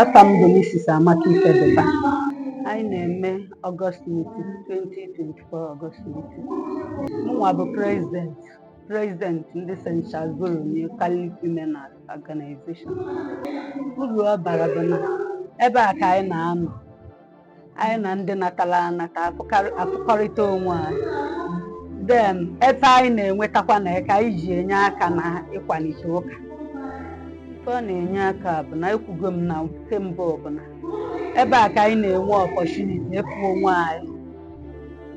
Afa m bụ Mrs. Amaka Ifedeba. Anyị na-eme August meeting 2024 August meeting. Mụnwa bụ president president ndị St. Charles Borromeo Catholic Women Organization. Uru ọ bara bụ na ebe a ka anyị na-anọ anyị na ndị natala anata afụkarị- afụkọrịta onwe anyị then ife anyị na-enwetakwa na ya ka anyị ji enye aka na ịkwalite ụka ife ọ na-enye aka bụ na ekwugo m na nke mbụ bụ na ebe a ka anyị na-enwe opportunity ịfụ onwe anyị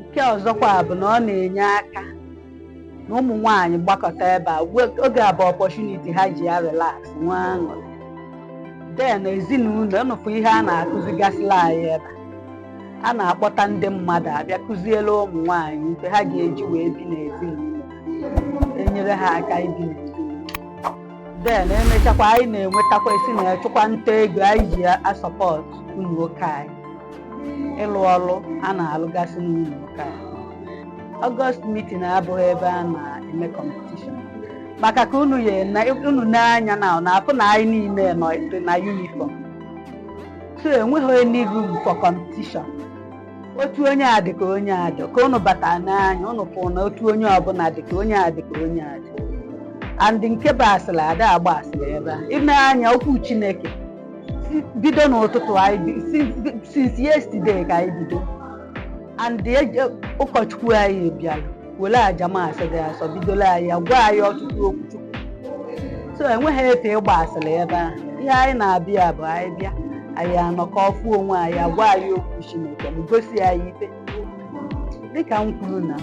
nke ọzọkwa bụ na ọ na-enye aka na ụmụ nwaanyị gbakọta ebe a we- oge a bụ opportunity ha ji ya relax nwee aṅụrị then ezinụlọ nụfụ ihe a na-akụzigasịla anyị ebe a na-akpọta ndị mmadụ abịa kụziele ụmụ nwaanyị ife ha ga-eji wee bi n'ezinụlọ enyere ha aka ibi n'ezinụlọ then emechakwa anyị na-enwetakwa esi na achụkwa nta ego anyị ji a-support ụnọ ụka anyị ịlụ ọrụ a na-alụgasị n'ụnọ ụka anyị August meeting abụghị ebe a na-eme competition maka ka unu ya na unu nee anya unu afụ na anyị niile nọ dị na uniform so enweghị any room for competition otu onye a dị ka onye a dị ka unu bata nee anya unu fụ na otu onye ọbụla dị ka onye a dị ka onye a dị and nke bụ asịrị ada agba asịrị ebe a i nee anya okwu Chineke si- bido n'ụtụtụ anyị bi- si- since yesterday ka anyị bido and ụkọchukwu anyị bịara were aja Mass dị asọ bidola anyị ya gwa anyị ọtụtụ okwu Chukwu so enweghị efe ịgba asịrị ebe a ihe anyị na-abịa bụ anyị bịa anyị anọkọ afụ onwe anyị agwa anyị okwu Chineke ma gosi anyị ife dịka m kwuru na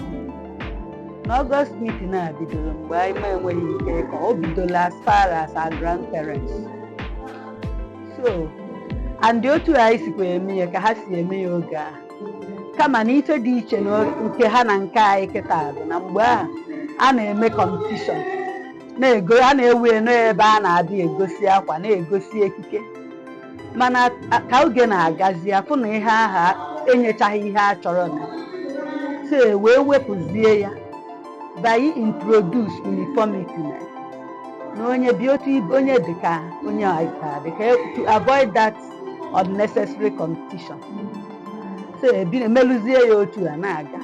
August meeting a bidoro mgbe anyị ma enweghị ike ịkọ o bidola as far as our grandparents so and otu anyị sikwa eme ya ka ha si eme ya oge aha kama na ife dị iche na nke ha na nke anyị kịta bụ na mgbe ahụ a na-eme competition na-ego a na-ewe ya na ebe a na-abịa egosi akwa na-egosi ekike mana a- ka oge na-agazi afụ na ihe aha enyechaghị ihe a chọrọ na so e wee wepụzie ya by introduce uniformity na onye bi otu ibe onye dịka onye ọyịta dịka to avoid that unnecessary competition so ebi emeluzie ya otu a na-aga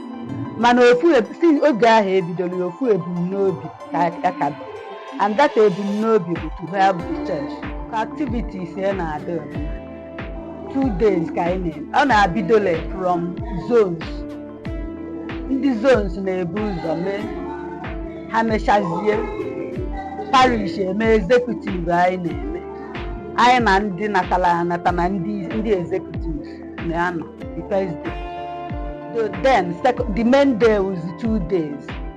mana ofu eb- si oge ahụ ebidoro ya ofu ebumnobi ka ka ka dị. and that ebumnobi bụ to help the church ka activities ya na-adị ọdịna two days ka anyị na-eme ọ na-abidole from zones ndị zones na-ebu ụzọ mee ha mechazie parish eme executive anyị na-eme anyị na ndị natala anata na ndị ndị executive na-anọ the first day So then sec- the main day was two days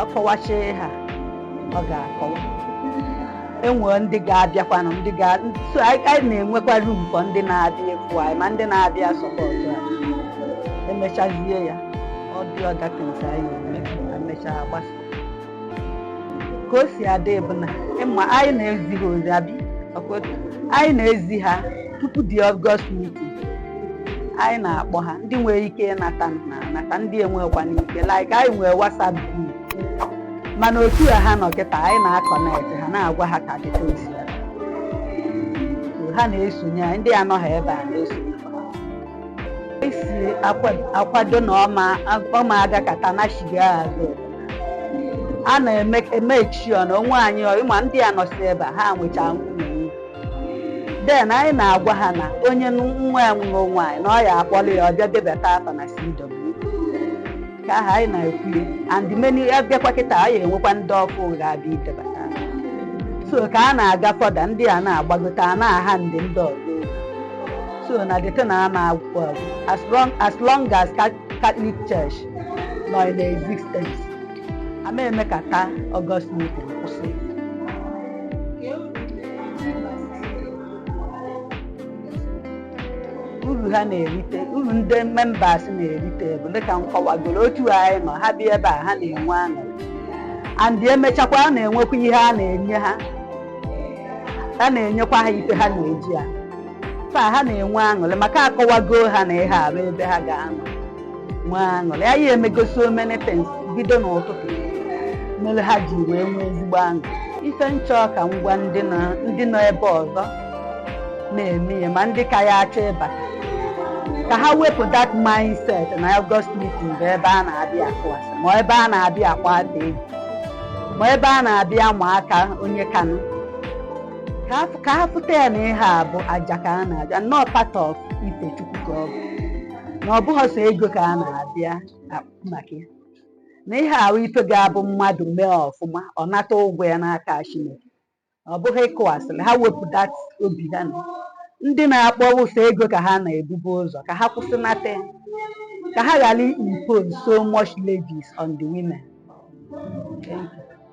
ọ kọwacha ha ọ ga-akọwa enwere ndị ga-abịakwanụ ndị ga so anyị anyị na-enwekwa room for ndị na-abịa efu anyị ma ndị na-abịa support anyị emechazie ya ọ dị other things anyị eme ma mechaa gbasa ka o si adị bụ na ịma anyị na-ezi ha ozi abịa ọkwa otu. anyị na-ezi ha tupu the August meeting anyị na-akpọ ha ndị nwere ike ịnata na anata ndị enwekwa n'ike like anyị nwere whatsapp group mana otu a ha nọ kịta anyị na-aconnect ha na-agwa ha ka dịka o si ya So, ha na-esonye anyị ndị anọghị ebe a na-esonye esi akwa- akwado na ọ ma ọ ma agakata nashiga azụ a na-eme emechi ọ na onwe anyị ọ ịma ndị a nọsi ebe a ha nwecha nwunye then anyị na-agwa ha na onye nwa ya nụrụ nwaanyị na ọ ya-akpọrọ ya bịa debata afa na CW ka aha anyị na-ekwu ya and many abịakwa kịta anyị enwekwa ndị ọfụụ ga-abịa idebata afa. so ka a na-aga further ndị a na-agbagote a na-aha ndị ndị ọzọ ozi. so na the thing ama agwụkwa agwụ as long as long as Ca- Catholic Church nọ in existence ama emekata August meeting kwụsị uru ha na-erite uru ndị members na-erite bụ dịka m kọwagoro otu anyị nọ ha bịa ebe a ha na-enwe aṅụrị and emechakwa a na-enwekwa ihe a na-enye ha a na-enyekwa ha ife ha na-eji a taa ha na-enwe aṅụrị maka akọwago ha na ihe a bụ ebe ha ga-anọ nwee aṅụrị anyị emego so many things bido n'ụtụtụ mere ha ji wee nwee ezigbo aṅụ ife m chọ ka m gwa ndị nọ ndị nọ ebe ọzọ na-eme ya ma ndị ka ya achọ ịbata ka ha wepụ that mindset na August meeting bụ ebe a na-abịa akụ asị ma ebe a na-abịa akpata ego ma ebe a na-abịa ma aka onye kanụ ka ha- ka ha fụta ya na ihe a bụ aja ka a na-aja nnọọ part of ife Chukwu ka ọ bụ na ọ bụghị sọ ego ka a na-abịa akpụ maka ya na ihe a bụ ife ga-abụ mmadụ mee ọfụma ọ nata ụgwọ ya n'aka Chineke ọ bụghị ịkụ asịrị ha wepụ that obi ha na ndị na-akpọ sọ ego ka ha na-ebubu ụzọ ka ha kwụsịnata ya ka ha ghara impose so much levies on the women. Thank you.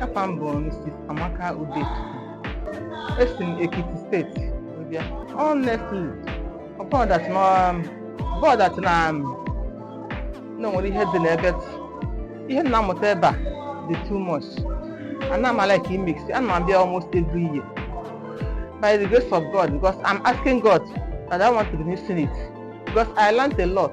Afa m bụ Mrs. Amaka Udechukwu. Esi m Ekiti State wee bịa. Honestly, ọ bụrụ that na um, bụrụ that na um, na o nwere ihe dị n'ebe t- ihe m na-amụta ebe a dị too much. Ana m alike imiss, ana m abịa almost every year. By the grace of God, because I'm asking God that I will not be missing it. Because I learned a lot.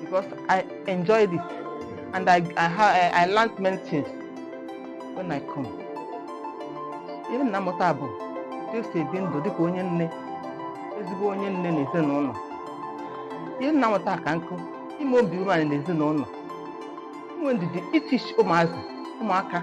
because I enjoyed it and I, I, ha- I learned many things when I come. Ihe m na-amụta bụ otu esi ebi ndụ dịka onye nne, ezigbo onye nne na ezinụlọ. Ihe m na-amụta ka nkụ, ime obi umeala na ezinụlọ. Inwe ndidi itichi ụmụazị, ụmụaka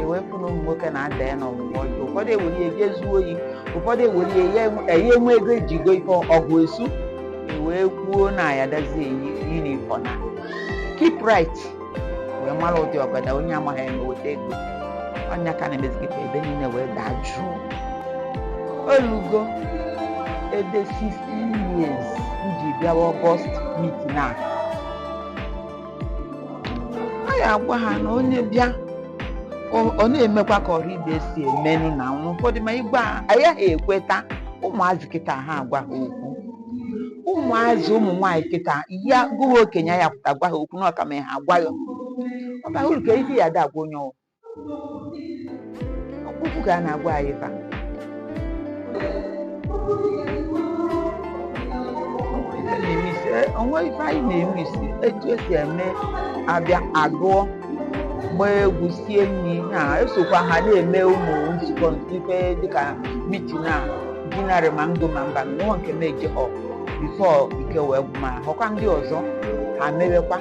e wee fụ na ụmụ nwoke na-ada ya n'ọgwụgwọ ọjọọ ụfọdụ ewere ya jee zuo oyi ụfọdụ ewere ya ya enwe- ya enwe ego eji go ife ọgọst e wee kwuo na ya dazi eyi yunifọm na keep right wee mara ụdị ọgọdọ onye amaghị eme weta ego ọ ya ka a na-emezi kịta ebe niile wee daa jụụ olugo ebe 16 years m ji bịawa ọgọst mitin a a ya agwa ha na onye bịa ọ- ọ na-emekwa ka ọrụ ibe si emenụ na nwa ụfọdụ ma ị gwa ayaha ekweta ụmụazị kịta ha agwa ha okwu ụmụazị ụmụ nwaanyị kịta ya gụwa okenye ya pụta gwa ha okwu na ọka ma ha agwa ya ọ bara uru ka isi ya ada agwa onye ọwụ okwu ka a na-agwa anyị taa o nwe ife anyị na-eme isi etu esi eme abịa agụọ gbaa egwu sie nri na-esokwa ha na-eme ụmụ nzukọ ife dịka mitin a dinarị ma ndụ ma mba nwa nke na-eje họ before ike wee gwụ m a họkwa ndị ọzọ ha mewekwa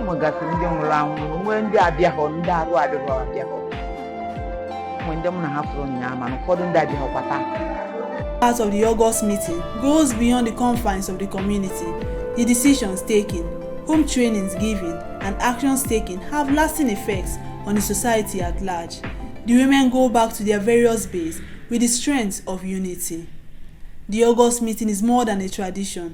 nwegasị ndị nwụrụ anwụ nwee ndị abịaghọ ndị arụ adịghọ abịaghọ nwee ndị mụ na ha fụrụ ụnyaahụ mana ụfọdụ ndị abịaghọkwa taa The impact of the August meeting goes beyond the confines of the community. The decisions taken, home trainings given, and actions taken have lasting effects on the society at large. The women go back to their various base with the strength of unity. The August meeting is more than a tradition,